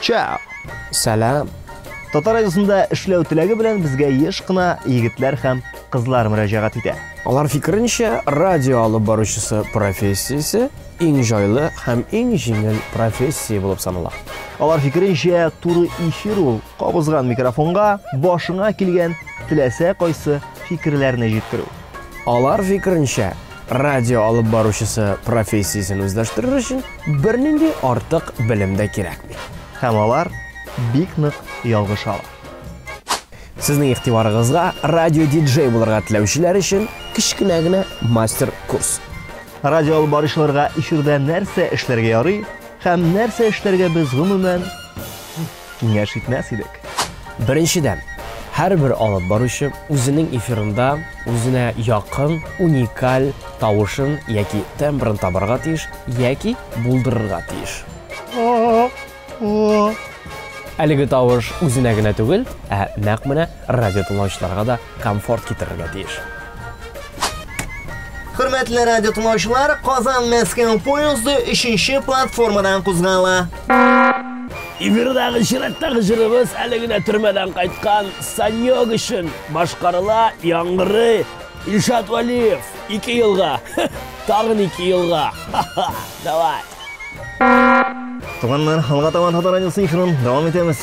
Чао! Сәлам! Татар радиосында эшләү теләге белән безгә еш кына егетләр һәм кызлар мөрәҗәгать итә. Алар фикеренчә, радио алып баручысы профессиясе иң җайлы һәм иң җиңел профессия булып санала. Алар фикеренчә, туры эфир ул кабызган микрофонга башыңа килгән теләсә кайсы фикерләрне җиткерү. Алар фикеренчә, радио алып баручысы профессиясен үзләштерер өчен бернинди артык белем дә кирәкми. Һәм алар бик нык ялгышалар. Сезнең игътибарыгызга радио-диджей булырга теләүчеләр өчен кечкенә генә мастер-курс. Радио алып баручыларга эфирда нәрсә эшләргә ярый һәм нәрсә эшләргә без гомумән киңәш итмәс идек. Беренчедән, һәрбер алып баручы үзенең эфирында үзенә якын, уникаль тавышын яки тембрын табарга тиеш яки булдырырга тиеш. Әлеге тавыш үзенә генә түгел, ә нәкъ менә Радиотыңлаучыларга да комфорт китерергә тиеш. Хөрмәтле радио тыңлаучылар, Казан Мәскәү поезды 3-нче платформадан кузгала. Эфирдагы чираттагы җырыбыз әле генә төрмәдән кайткан Санёк өчен башкарыла, яңгырый Илшат Валиев. Ике елга. Тагын ике елга. Давай. Туганнар, алга табан Татар радиосы эфирын дәвам итәбез.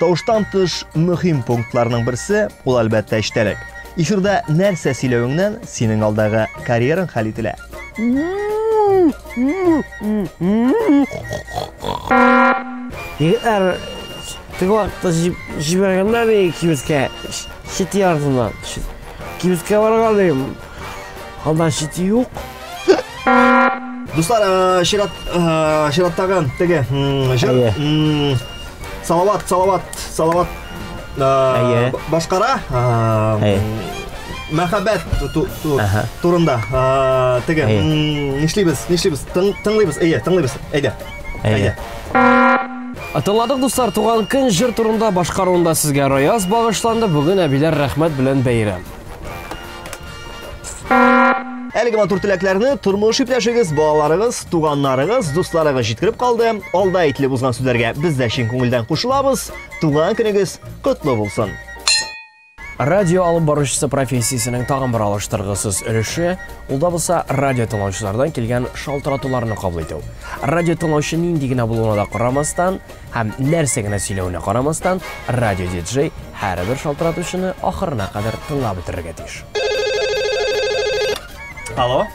Тавыштан тыш мөһим пунктларның берсе, ул әлбәттә эчтәлек. Эфирда нәрсә сөйләвеңнән синең алдагы карьераң хәл ителә. Егетләр теге вакытта җибәргәннәр ди кибеткә, чит ярдына. Кибеткә барган идем, Алда шите юк. Дуслар, э, чират, э, чираттагы теге җыр. Салават, салават, салават. Э, башкара. Мәхәббәт турында. Теге, нишлибез, нишлибез? Тыңлыйбыз, әйе, тыңлыйбыз. Әйдә. Әйдә. Атылладык дуслар, туган көн җыр турында башкаруында сезгә Раяз багышланды. Бүген әбиләр рәхмәт белән бәйрәм. Әлеге матур теләкләрне тормыш иптәшегез, балаларыгыз, туганнарыгыз, дусларыгыз җиткереп калды. Алда әйтелеп узган сүзләргә без дә чын күңелдән кушылабыз. Туган көнегез котлы булсын. Радио алып баручысы профессиясенең тагын бер алыштыргысыз өлеше, ул да булса радио тыңлаучылардан килгән шалтыратуларны кабул итү. Радио тыңлаучы нинди генә булуына да карамастан, Һәм нәрсә генә сөйләвенә карамастан, радиодиджей һәрбер шалтыратучыны ахырына кадәр тыңлап бетерергә тиеш. Алло?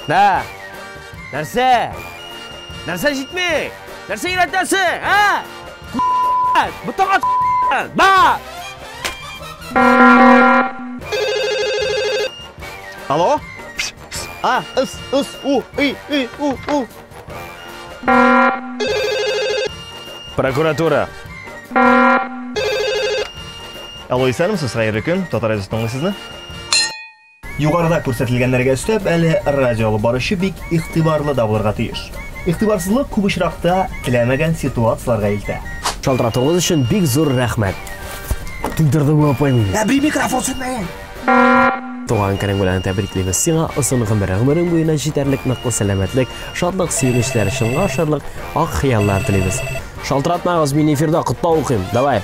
Нә! Нәрсә? Нәрсә җитми? Нәрсә өйрәтәсең, ә? Бутагат! Да! Алло? А, ыс, ыс, у, и, и, у, у. Прокуратура. Алло, исәнмесез, хәерле көн. Татар әзәс тыңлый сезне. Югарыда күрсәтелгәннәргә өстәп, әле радио алып баручы бик игътибарлы да булырга тиеш. Игътибарсызлык күп очракта теләмәгән ситуацияләргә илтә. Шалтыратуыгыз өчен бик зур рәхмәт! Туйдырдың бу апай мине. Әби микрофон сүнмәгән. Туган көнең белән тәбриклибез сиңа, озын гомер, гомерең буена җитәрлек ныклы сәламәтлек, шатлык, сөенечләр, чынга ашарлык ак хыяллар телибез. Шалтыратмагыз, мин эфирда котлау укыйм, давай!